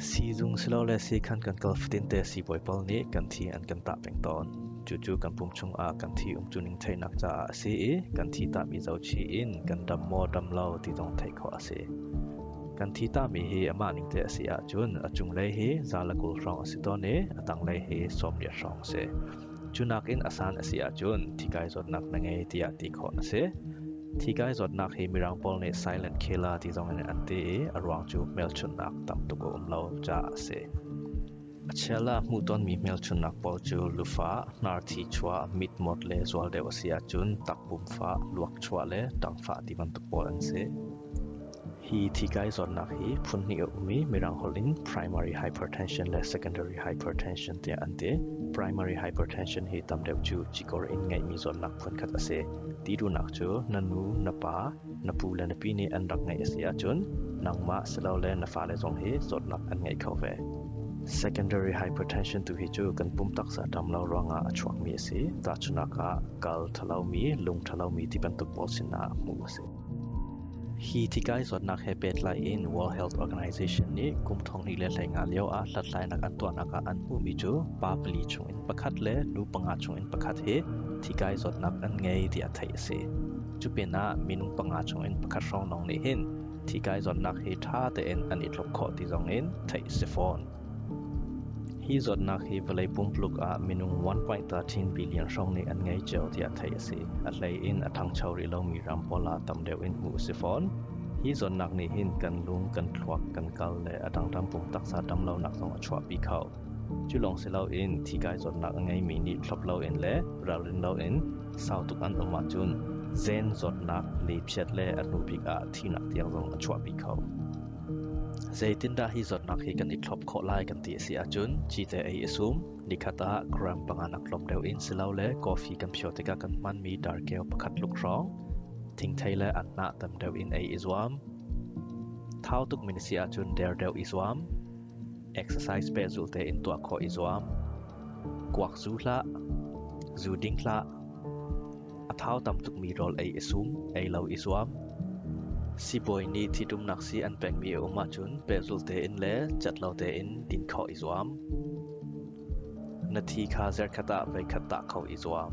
Siizung silole siikhan kan kal fatinte siibawi pawl nih kan thi an kan tah peng tawn. Cucu kan pum chungah kan thi umcuning theihnak caah a si i kan thi tahmi zo chih in kan ram maw ram lo ti zong theih khawh a si. Kan thi tahmi hi amah ning te a si ahcun a cunglei hi zaalakul hrawng a si tawn i a tanglei hi sawmriah hrawng a si. Cu nakin a san a si ahcun thi kai zawtnak na ngei tiah ti khawh na si. Thi kai zawtnak hi mirang pawl nih silent killer ti zong in an ti i a ruang cu hmelchunhnak tam tuk a um lo caah a si. A chiala hmuhtonmi hmelchunhnak pawl cu lufa, hnarthi chuah, mitmawt le zual deuh a si ahcun takbum fah, luakchuah le ṭangfah ti bantuk pawl an si. Hi thikai zawtnak hi phunhnih a um i Mirang holh in primary hypertension le secondary hypertension tiah an ti. Primary hypertension hi tam deuh cu cikor in ngeihmi zawtnak phunkhat a si. Ti duhnak cu na nu, na pa, na pu le na pi nih an rak ngeih a si ahcun nangmah silole na fale zong hi zawtnak an ngei kho ve. Secondary hypertension tu hi cu kan pum taksa dam lo ruangah a chuakmi a si. Tahchunak ah kal thalomi, lung thalomi ti bantuk pawl sinah hmuh a si. Hi tikai zawtnak he pehtlai in World Health Organization nih kum thonghnih le hleinga lio ah hlathlainak an tuahnak ah an hmuhmi cu pa pali chung in pakhat le nu panga chung in pakhat hi tikai zawtnak an ngei tiah theih a si. Cu pinah minung panga chung in pakhat hrawng lawng nih hin tikai zawtnak hi ṭha tein an i tluk khawh ti zong in theih a si fawn. Hi zawtnak hi vawlei pumpuluk ah minung 1.13 billion hrawng nih an ngei cio tiah theih a si. A hlei in a ṭhangcho rih lomi ram pawl ah tam deuh in hmuh a si fawn. Hi zawtnak nih hin kan lung, kan thluak, kan kal le a dangdang pum taksa damlonak zong a chuahpi kho. Cu lawng si loin thikai zawtnak a ngeimi nih thlop loin le ralrin loin sau tuk an um ahcun zen zawtnak, lipchiat le a hnubik ah thihnak tiang zong a chuahpi kho. Zeitindah hi zawtnak hi kan i thlop khawh lai kan ti a si ahcun cite ei a sum. Nikhat ah gram panga nak tlawm deuh in silole coffee kan phio tikah kan hmanmi darkeu pakhat tluk hrawng thingthei le anhnah tam deuh in ei i zuam. Thau tukmi na si ahcun der deuh i zuam. Exercise pehzul tein tuah khawh i zuam. Kuak zu hlah. Zu ding hlah. A thau tam tukmi rawl ei i sum, ei lo i zuam. Sibawi nih ṭhitumnak sii an pekmi a um ahcun pehzulh tein le cat lo tein din khawh i zuam. Na thi kha zerkhat ah veikhat tah kho i zuam.